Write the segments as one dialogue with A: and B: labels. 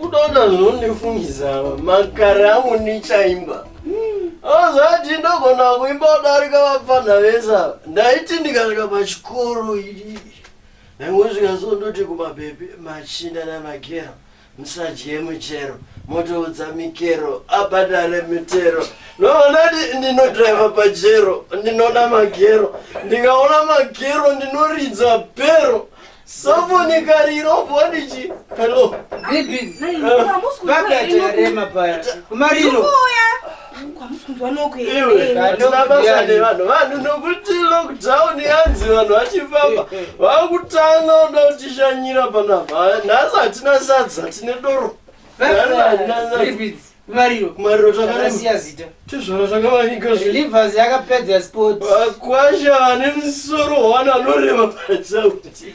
A: unoona
B: zvinondifungisa makare angu ndichaimba azati ah, ndogona kuimba kudarika vapfanha vese ndaiti ndikasvika pachikoro Ndangosvika so ndoti kumabhebhi machinda navakero musadye muchero motoudza mikero abhadhare mitero noonati ndinodriva pajero ndinoda magero ndikaona magero ndinoridza bhero sofoni kariro bodichi helo vanhu nokuti lockdown yanzi vanhu vachifamba eh, eh. vakutanga uda kutishanyira panapa nhasi hatina sadza tine doro
A: mariro mariro takarasiya zita tizvona zvakamanika
B: zvlivers yakapedza
A: sport vakwasha vane
B: musoro wana anoreva patsauti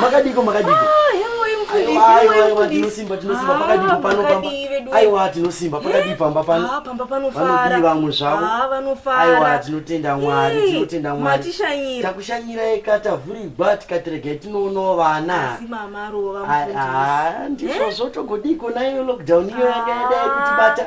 C: makadiko makadiko tinosimba tinosimba pakadipo pano aiwa tinosimba pakadii pamba panopanodii vamwe zvavoaiwa tinotenda mwari tinotenda mwari takushanyira eka tavhurirwa tikatiregai tinoonawo vana ndizvozvo togodii kona iyo lockdown iyo yanga yadai kutibata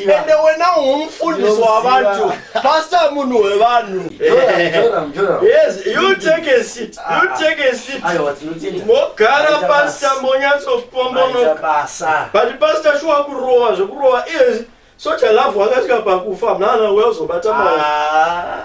B: ende wena umufundisi wavantu pasta munhu wevanhu
C: mogara pasta
B: monyatsopombonoka but pasta shuwa kurova zvekurova izvi soja lavhu akasvika pakufa mnana weuzobata maa ah.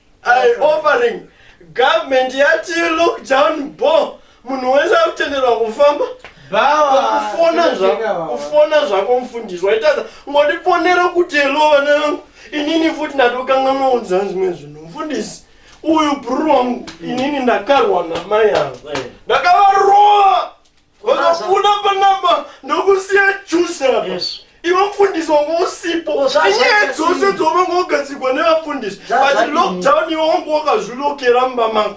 B: I offering government yati look down bo munhu wese akutenderwa kufamba kufona zvako mfundisi waitaza ngondifonera kuti helo vana vangu inini futi ndatokanga maunzaa zvimwe zvinhu mfundisi uyu bruru wangu inini ndakarwa namai avo eh. ndakavarova Vakafuna panamba ndokusiya juice apa. Yes. Iwe mfundisi wangu usipo. Oh, zva- Inyaya zvaita dzose sei? dzovanga wagadzirwa nevafundisi. Zva- But zvadini? lockdown iwe wangu wakazvilokera mumba mako.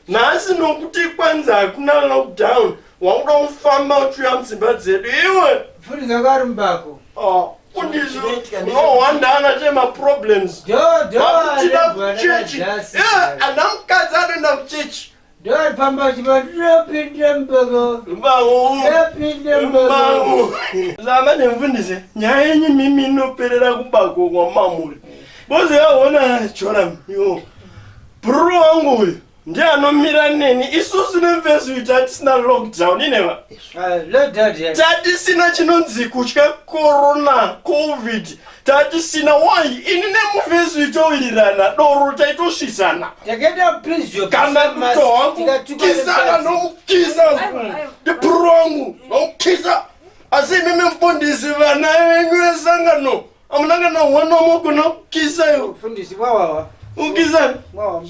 B: Nhasi nokuti kwanzi hakuna lockdown. Wakuda kufamba uchiuya mudzimba dzedu iwe. Mfundisi wako ari
A: mumbako. Ah, Mfundisi
B: Zvinoitika ndezvo. unohwanda ana che maproblems. Do do Vakutida arembwa kuchechi. nakajasi. Eh, ana mukadzi anoenda kuchechi. Dad, pamba chiba
A: ndinopinda mbogo. Mbawo. Ndinopinda
B: mbogo. Mbawo. Zama nemfundisi, nyaya yenyu mimi inoperera kubako kwa mamuri. Bozi yaona chora yo. Bro wangu uyu ndiye anomira neni isusu nemfesi uyu tatisina lockdown ineva ah, tatisina chinonzi kutya corona covid tatisina why ini nemufesi itowirirana doro taitosvisana Takenda please your kana kiss mask, kuto wangu tikatuka kisa nepasi. kanomukisa ndipurwangu nomukisa asi imimi mfundisi vana venyu vesangano amuna kana hwana mogona kukisa yo Mfundisi wawawa. ukisa Wawa.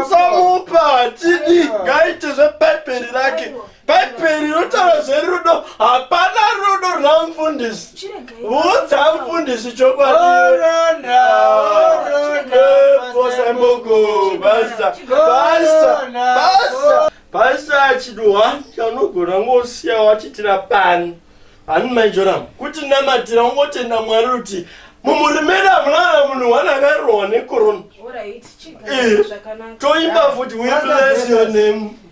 B: samupa tidi ngaite zvebhaibheri rake bhaibheri rinotaura zverudo hapana rudo rwamfundisi vudza mfundisi chokwadiaasapasapasapasa chiduwa chanogona ngosiya wachitira pani hani maijoram kuti namatira ungotenda mwari ruti mumurimera mwana munhu wana akarohwa nekorona toimba futi we bless your name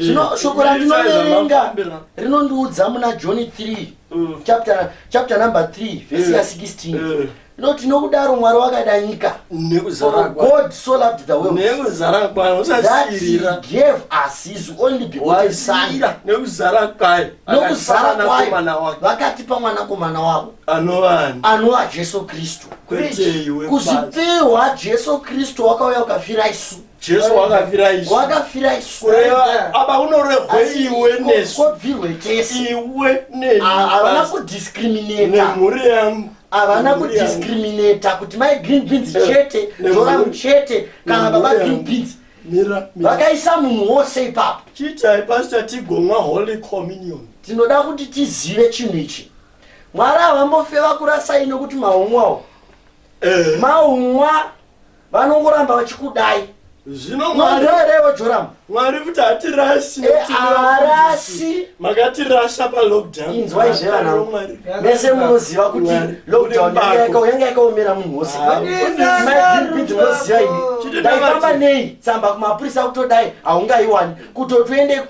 B: zvino shoko
C: randinoverenga rinondiudza muna johni 3 mm. chapter, chapter number 3 vhesi ya 16 inoti nokudaro mwari wakada nyika god so loved the world that he gave us his only begotten son nekuzara kwayo vakatipa mwanakomana wavo anova jesu kristu kuzvipiwa jesu kristu wakauya ukafira isu jesu wakafira
B: isu wakafira isu kureva apa unorevhwe iwe nesu kobvirwe tese
C: iwe
B: neavana
C: kudiscriminata nemhuri yangu
B: havana
C: kudiscriminata kuti mai green beans eh, chete zvoramu chete kana baba green beans vakaisa munhu wose ipapo chitai pastor
B: tigomwa holy communion tinoda kuti
C: tizive chinhu ichi mwari havambofe vakurasai nokuti mahomwawo Eh. maumwa vanongoramba vachikudai zvino mwari
B: mwarerevo
C: joramu mwari kuti
B: hatirasi Eh, nekuti haarasi.
C: makatirasa
B: palockdown Inzwa izve vana. Mwari,
C: Mwari. mese munoziva kuti Mwari. lockdown Uri yanga mbako. yaka- yanga yakaomera munhu wose Ah, magrp tinoziva ini Chiti ndaifamba ndavati. nei tsamba kumapurisa kutodai haungaiwani kutoti uende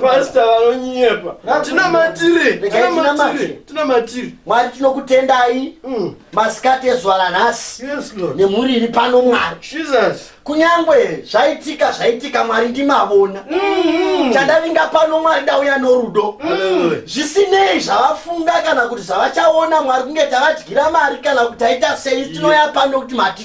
B: pasta vanonyepa tina matiri tina matiri tina matiri mwari tinokutendai
C: mm. masikati ezuva ranhasi nemhuri
B: iri pano mwari kunyange
C: zvaitika zvaitika mwari ndimavona mm-hmm. chandavinga pano mwari ndauya norudo mm. zvisinei zvavafunga kana kuti zvavachaona mwari kunge tavadyira mari kana kuti taita sei tinoya pano kuti mati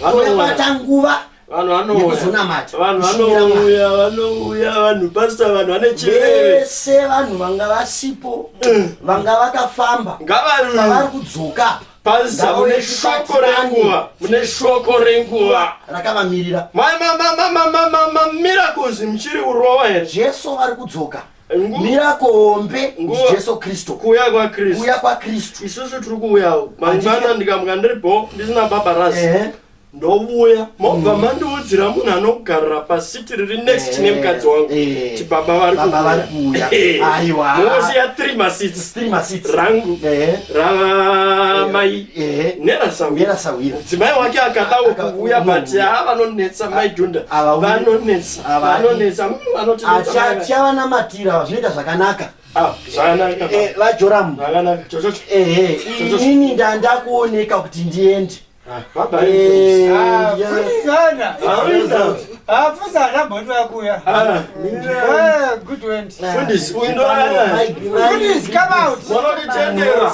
C: vanobata nguva vanouya
B: vanouya vanhu pasta vanhu vanechivese vanhu vanga
C: vasipo eh. vanga vakafamba ngavari kudzoka pasta mune
B: shoko renguva mune shoko renguva rakavamirira
C: mamamamamamamamirakozi
B: muchiri kurowa here jesu vari kudzoka
C: mirako hombe ndijesu kristu kuuya kwakristu kuuya
B: kwakristu isusu tiri kuuyawo mangwana
C: ndikamuka
B: ndiri bo ndisina baba rasi ndovuya mobva mm. mandiudzira munhu anogarira pasiti riri next chine eh, mukadzi wangu eh. ti baba vari kuuyamosiya eh. three masits rangu ramai
C: nerasawira mudzimai wake
B: akadawo kuvuya but haa vanonetsa maidhunda vanonetsa achatya
C: vanamatira vazvinoita zvakanaka ah,
B: eh, vajoramu eh, eh, inini
C: ndandakuoneka kuti ndiende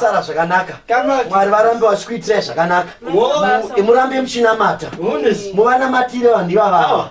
C: sara
A: zvakanaka
C: mwari varambe
A: vachikuitirai
C: zvakanaka murambe muchinamata
B: muvanamatire
C: vanhu
B: ivavava ah.